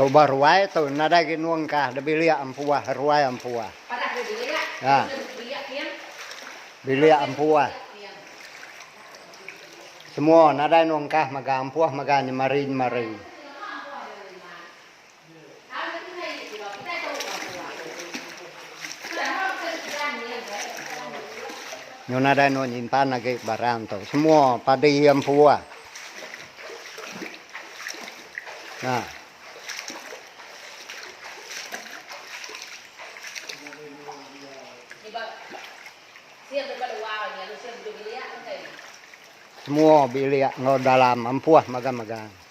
Tu bah ruai tu nadai agi nuang kah da bilik ampuah ruai ampuah. Ya. Bilik ampuah. Semua nadai nuang kah mega ampuah mega nyemari nyemari. Nyu nadai eno nyimpan agi barang tu semua padi iya empu ah. Nah. Semua bilik enggau dalam empu ah megang-megang.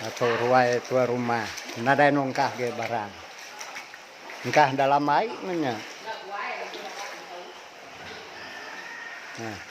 Dato Ruai tua rumah nadai nungkah agi barang. Engkah dalam ai meh nya. Hah.